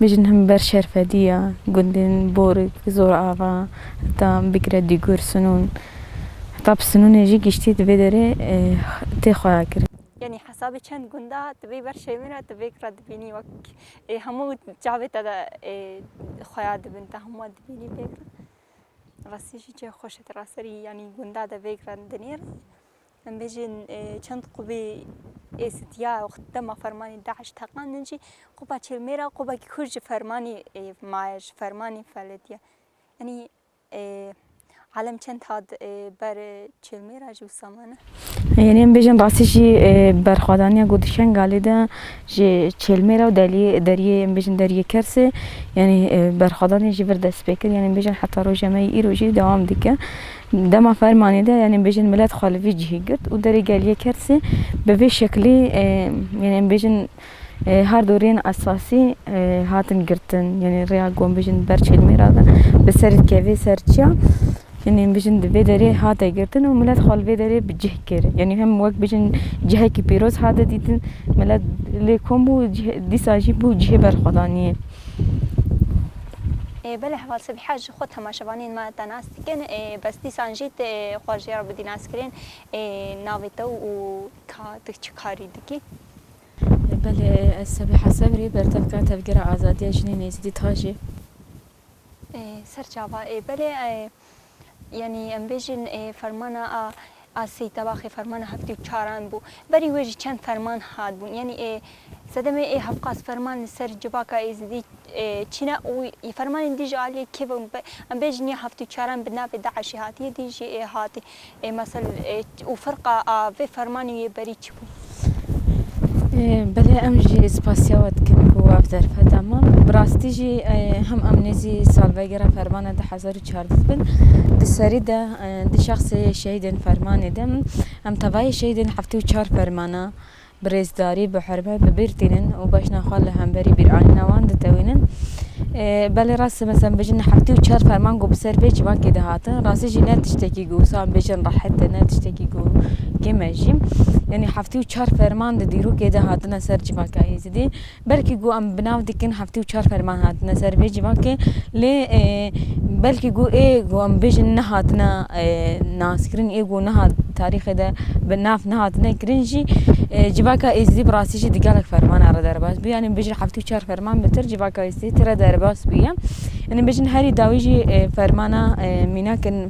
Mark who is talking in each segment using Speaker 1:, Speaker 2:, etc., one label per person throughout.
Speaker 1: Mijin him ber şerfediya gundên Borik, Zorava heta bigire Dîgur, Sinûn heta bi Sinûnê jî giştî di vê derê tê xweyakirin. Yanî hesabê çend
Speaker 2: gunda di vê ber şêwên re tu vêk re dibînî wek ê hemû çavê te de ê xweya dibin te hemû wan dibînî vêk re. Rastî jî çê xweş e tu raserî yanî gunda de vêk re dinêrî. Em bêjin çend qubî ê sitiya û dema fermanî DAIŞ teqandin jî quba çilmê re qubekî kurd ji fermanî maye, ji fermanî feletiye. Yanî alem çend hat ber çilmê re ji wisa mane? Yanî em bêjin
Speaker 1: rastî jî berxwedaniya ku di Şengalê de ji çilmê re û deriyê em bêjin deriyê Kersê yanî berxwedanî ji vir dest pê kir. Yanî em bêjin heta roja me yê îro jî dewam dike. Dema fermanê de yanê em bêjin milet xwe li vî cihê girt û derê geliyê Kersê bi vê şeklê yanê em bêjin her du rêyên esasî hatin girtin. Yanê rêya ku em bêjin ber Çêlmêra de bi ser dikeve ser çiya yanê em bêjin di vê derê hate girtin û milet xwe li vê derê bi cih kir. Yanê hem wek bêjin cihekî pîroz hate dîtin, milet lê kom bû dîsa jî bû cihê berxwedaniyê. Belê heval Sibîha
Speaker 2: ji xwe temaşevanên me de nas. Dikin ê bes dîsan jî ti ê xwe ji ya bidî naskirên ê navê te û ka tu çi karî dikî. Belê
Speaker 1: ez Sebiha Sebrî bertevkira Tevgera Azadiya Jinên Êzidî Tajî.
Speaker 2: Serçava ê belê yanî em bêjin ê fermana a. Asî Tabaxî fermana heftê û çaran bû. Berî wê jî çend ferman hatbûn. Yanî ê sedemê ê hevqas ferman li ser civaka êzidî çîn e û fermanên dî jî aliyê kê ve em bêjin ya heftê û çaran bi navê DAIŞ'ê hatiye dî jî ê hatî. Ê mesel û firqa a vê fermanê yê berî çi bû?
Speaker 1: Belê em jî spasiya we dikin ku ev derfeta man. Bi rastî jî hem em nêzî salvegera fermana di hezar û çardeh bin di serî de di şexsê şehîdên fermanê de em tevayê şehîdên heftê û çar fermana bi rêzdarî bi hurmet bi bîr tînin û bejna xwe li hemberî bîranîna wan ditewînin. Belê rast e em bijîn heftê û çar ferman ku bi ser vê civakê de hatin rastî jî ne tiştekî Wisam bêjin rehet e ne tiştekî ku kêm e jî. Yanî heftê û çar ferman di dîrokê de hatine ser civaka Êzidî. Belkî ku em bi nav dikin heftê û çar ferman hatine ser vê civakê lê belkî ku ê ku em bêjin nehatine naskirin ê ku niha tarîxê de bi nav nehatine kirin jî civaka Êzidî bi rastî jî di gelek fermana re derbas bûye. Yanî bêjin heftê û çar ferman bi tir civaka Êzidî tire derbas bûye. Yanî bêjin herî dawî jî fermana mînak in.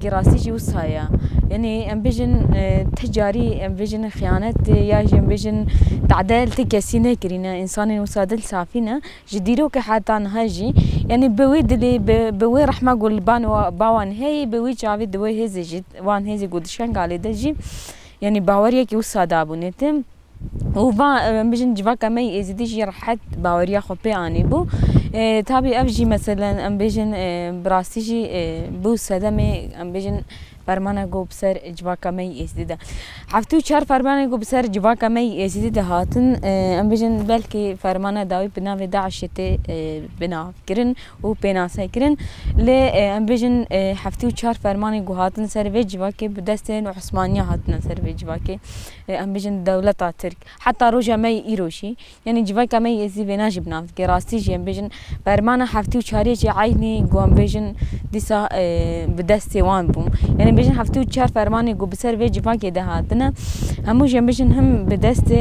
Speaker 1: Kî rastî jî wisa ye. Yanî em bêjin ti carî em bêjin xiyanet ya jî em bêjin tadel ti kesî nekirîne. Însanên wisa dil safî ne. Ji dîrokê heta niha jî yanî bi wê dilê bi bi wê rehma ku li ban wan bawan heye bi wî çavê di wê hêzê jî wan hêzê ku di Şengalê de jî yanî baweriyekî wisa dabûne tim. û va, em bijîn civaka me yê Êzidî jî rehet baweriya xwe pê anîbû. Tabî ev jî meselen em bêjin bi rastî jî bû sedemê em bêjin fermana ku bi ser civaka me yê Êzidî de. Heftê û çar fermanên ku bi ser civaka me yê Êzidî de hatin em bêjin belkî fermana dawî bi navê DAIŞ'ê tê bi navkirin û pênase kirin. Lê em bêjin heftê û çar fermanên ku hatin ser vê civakê bi destên Osmaniyan hatine ser vê civakê. Em bijîn dewleta Tirk. Heta roja me yê îro jî, yanî civaka me yê zî vêna jî bi nav dike. Rastî jî em bijîn bermana heftê û çariyê jî eynî ku em bijîn dîsa bi destê wan bû. Yanî bijîn heftê û çar fermanê ku bi ser vê civakê de hatine hemû jî em bijîn him bi destê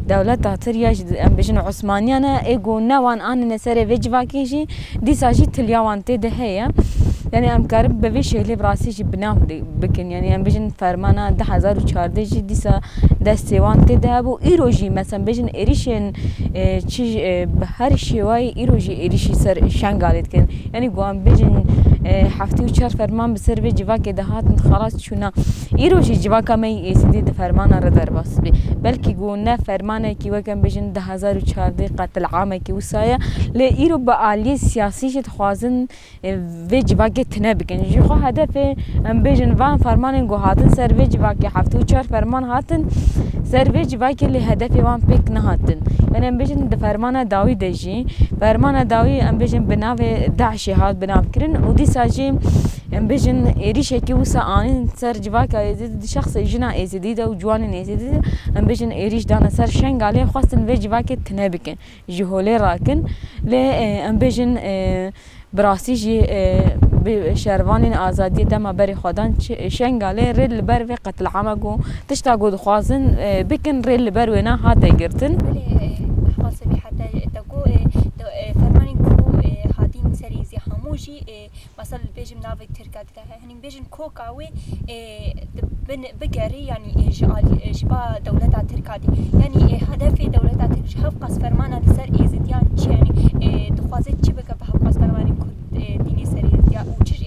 Speaker 1: Dewleta Tirya jî em bijîn Osmaniyan e, ê ku ne wan anîne serê vê civakê jî, dîsa jî tilya wan tê de heye. Yanî em karin bi vê şêlê bi rastî jî bi nav bikin. Yanî em bijîn fermana du hezar û çardeh jî dîsa destê wan tê de hebû. Îro jî mesela bijîn êrîşên çi bi her şêwayî îro jî êrîşî ser Şengalê dikin. Yanî ku em bijîn heftê û çar ferman bi ser vê civakê de hatin xelas çûna. Îro jî civaka me yê Êzidî di fermanan re derbas bê. Belkî ku ne fermanekî wek em bêjin du hezar û çardeh qetil'amekî wisa ye lê îro bi aliyên siyasî jî dixwazin vê civakê tune bikin. Ji xwe hedefê em bêjin van fermanên ku hatin ser vê civakê heftê û çar ferman hatin ser vê civakê lê hedefê wan pêk nehatin. Yanî em bêjin di fermana dawî de jî, fermana dawî em bêjin bi navê DAIŞ'ê hat binavkirin û dîsa jî, Em bijîn êrîşekî wisa anîn ser civaka Êzidî di şexsê jina Êzidî de û ciwanên Êzidî de, em bijîn êrîş dane ser Şengalê, xwestin vê civakê tune bikin, ji holê rakin. Lê em bijîn bi rastî jî bi şervanên azadiyê dema berê xwe dan Şengalê rê li ber vê qetilama ku tişta ku dixwazin bikin rê li ber wêne hate girtin.
Speaker 2: Mesela dibêjim navê tirke dide he. Hinî bêjin koka wê bigerî yanî ji alî ji ba dewleta tirka dî. Yanî hedefê dewleta tirk ji hev qas fermana li ser êzidiyan çi ye? Yanî dixwaze çi bike bi hev qas fermanên ku dînê ser êzidiyan û çi ji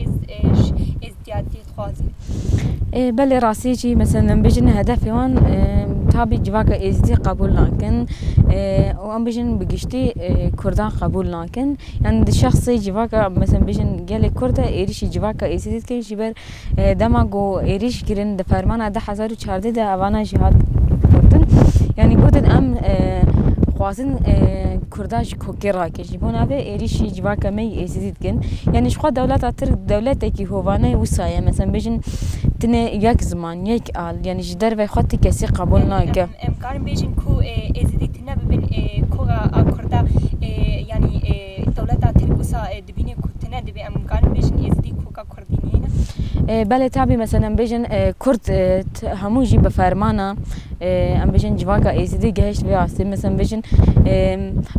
Speaker 2: êzidiyan dî? dixwazin. Belê
Speaker 1: rastî jî meselem em bijîn hedefê wan tabî civaka êzidî qebûl nakin û em bijîn bi giştî kurdan qebûl nakin yan di şexsê civaka meselem bijîn gelê kurd de êrîşî civaka êzidî dikin ji ber dema ku êrîş kirin di fermana di hezar û çardeh de evana jî hat gotin yanî gotin em dixwazin kurda ji kokê rakin. Ji bo navê êrîşî civaka me yî êzidî dikin. Yanî ji xwe dewleta tirk dewletekî hovane wisa ye. Meselem bêjin tinê yek ziman, yek al yanî ji derveyê xwe ti kesî qebûl nake. Em karin bêjin ku
Speaker 2: êzidî ti nebibin koga a kurda yanî dewleta tirk wisa dibîne ku tine dibe. Em karin bêjin êzidî koga kurda. Belê
Speaker 1: tabî meselen em bêjin kurd hemû jî bi fermana em bêjin civaka êzidî gihişt vê astê meselen bêjin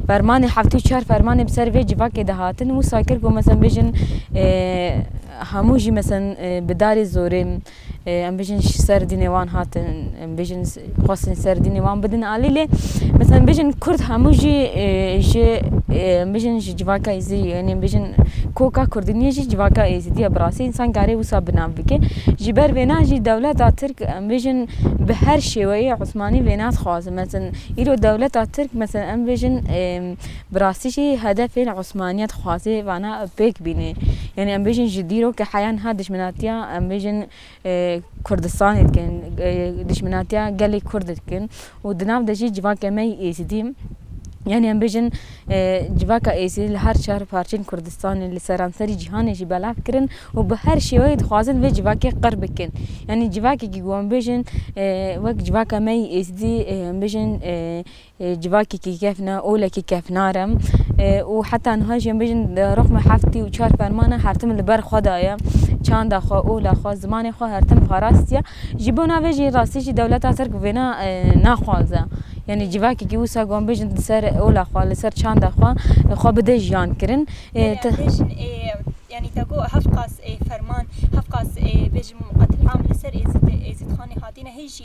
Speaker 1: fermanê heftê û çar fermanê bi ser vê civakê de hatin wisa kir ku meselen bêjin hemû jî meselen bi darê zorê Em bêjin ji ser dînê wan hatin em bêjin xwestin ser dînê wan bidin alî lê mesela em bêjin kurd hemû jî ji em bêjin ji civaka êzidî yanî em bêjin koka kurdî niyê jî civaka êzidî ye bi rastî însan karê wisa bi nav bike. Ji ber vê na jî dewleta tirk em bêjin bi her şêweyê osmanî vê nadixwazin. Meseln îro dewleta tirk meseln em bêjin Bi rastî jî hedefên Osmanî ya dixwaze vana pêk bîne. Yanî em bêjin ji dîrokê heya niha dijminatiya em bêjin Kurdistanê dikin, dijminatiya gelê Kurd de dikin û di nav de jî civakê me yê Êzidî yanî em bêjin civaka Êzidî li her çar parçeyên Kurdistanê li seranserî cîhanê jî belav kirin û bi her şêweyê dixwazin vê civakê qir bikin. Yanî civakekî ku em bêjin wek civaka me yê Êzidî em bêjin Civakekî kef ne, olekî kef nare û heta niha jî em bêjin rixme heftî û çar ferman e hertim li ber xwe daye. Çanda xwe, ola xwe, zimanê xwe hertim parastiye. Ji bona vê jî rastî jî dewleta Tirk vêna naxwaze. Yanî civakekî wisa ku em bêjin li ser ola xwe, li ser çanda xwe xwe bide jiyan kirin. Yanî te got heft qas ferman, heft qas bêjim qetil'am li ser
Speaker 2: Êzidxanê hatîne hê jî.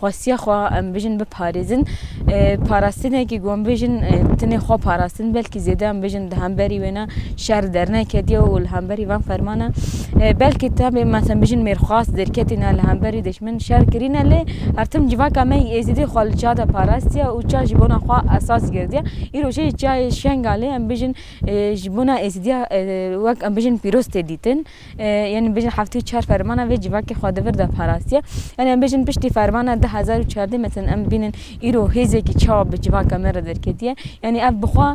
Speaker 1: Xwestiya xwe em bijin biparêzin. Parastinekî ku em bijin tenê xwe parastin belkî zêde em bijin di hemberî wê ne şer derneketiye û li hemberî van fermana belkî tevê me em bijin mêrxwas derketîne li hemberî dijmin şer kirîne lê her tim civaka me êzidî xwe li ça de parastiye û ça ji bona xwe esas girtiye. Îro jî cayê şengalê em bijin ji bona êzidiya wek em bijin pîroz tê dîtin. Yan em bêjin heftê û çar fermana vê civakê xwe di vir de parastiye. Yan em bêjin piştî fermana du hezar û çardeh meseln em bînin îro hêzekî çawa bi civaka me re derketiye. Yanî ev bi xwe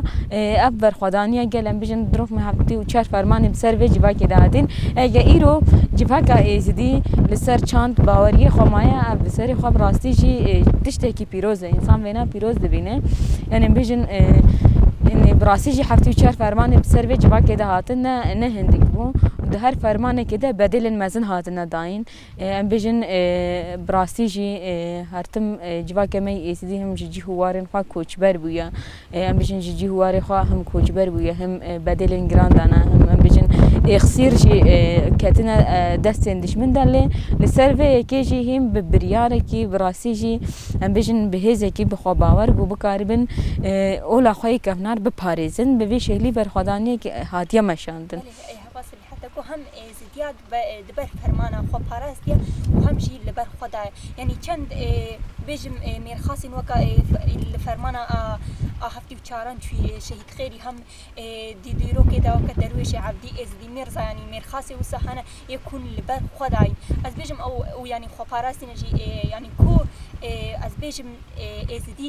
Speaker 1: ev berxwedaniya gel em bêjin dirok me heftê û çar fermanê bi ser vê civakê de hatîn. Eke îro civaka êzidî li ser çand baweriyê xwe maye ev bi serê xwe bi rastî jî tiştekî pîroz e. Însan Wêna pîroz dibîne. Yanî em bêjin bi rastî jî heftê û çar fermanên bi ser vê civakê de hatin ne ne hindik bû û di her fermanekê de bedêlên mezin hatine dayîn. Em bêjin bi rastî jî her tim civakê me yê Êzidî him ji cîh û warên xwe koçber bûye. Em bêjin ji cîh û warê xwe him koçber bûye him bedêlên giran dane him em bêjin êxsîr jî ketine destên dişmin de lê li ser vê yekê jî hîn bi biryarekî bi rastî jî em bêjin bi hêzekî bi xwe bawer ku bikaribin ola xwe yê kevnar biparêzin bi vê şeklî berxwedaniyek hatiye
Speaker 2: meşandin. Di dîrokê de weke derwêşê Evdî, Êzidî, Mîrza yanî Mîrxasî wisa hene yê ku hûn li ber xwe dayîn. Ez bêjim ew û yanî xweparastîne jî yanî ku ez bêjim Êzidî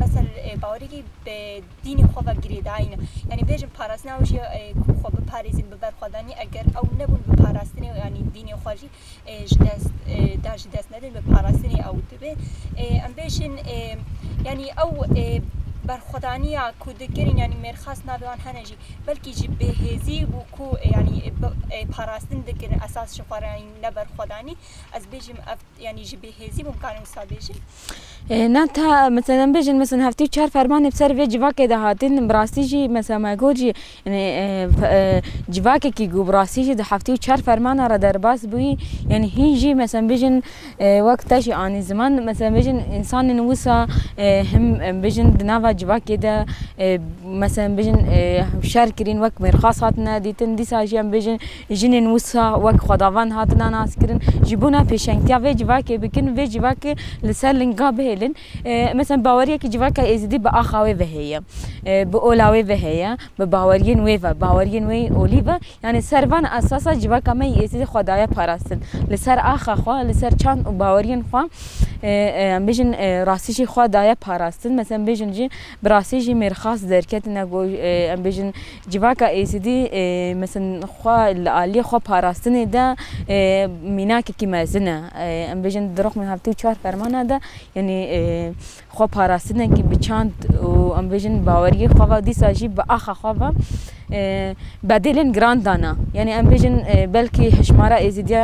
Speaker 2: mesel bawerekî bi dînê xwe ve girêdayîne. Yanî bêjim parastina ew jî ku xwe biparêzin bi ber xwe danî eger ew nebûn biparastinê yanî dînê xwe jî. ji dest da jî dest nedin bi parastinê ew dibe em bêjin yanî ew berxwedaniya ku dikirin yanî mêrxas navê wan hene jî belkî jî bêhêzî bû ku yanî parastin dikirin esas ji xwe re yanî ne berxwedanî ez bêjim ev yanî ji bêhêzî bûm kanî wisa bêjim na
Speaker 1: ta mesela em bêjin mesela heftê û çar fermanê bi ser vê civakê de hatin bi rastî jî mesela me got jî Yanî civakekî ku bi rastî jî di heftê û çar fermanan re derbas bûyî yanî hîn jî meselem bijîn wek te jî anî ziman meselem bijîn însanên wisa him bijîn di nava civakê de meselem bijîn şer kirîn wek mêrxas hatine dîtin dîsa jî em bijîn jinên wisa wek xwedavend hatina naskirin ji bona pêşengtiya vê civakê bikin vê civakê li ser linga bihêlin. Meseln baweriyekî civaka êzidî bi axa wê ve heye, bi ola wê ve heye, bi baweriyên wê ve, baweriyên wê yên olî ve, yanî ser van esasa civaka me yê êzidî xwe daye parastin. Li ser axa xwe, li ser çand û baweriyên xwe em bêjin rastî jî xwe daye parastin. Meseln em bêjin jî bi rastî jî mêrxas derketine ku em bêjin civaka êzidî meseln xwe li aliyê xwe parastinê de mînakekî mezin e. Em bêjin di rixmên heftê û çar fermana de Yanî xwe parastinên kî bi çand û em bêjin baweriyê xwe ve dîsa jî bi axa xwe ve bedêlên giran dana. Yanî em bêjin belkî hişmara êzîdiya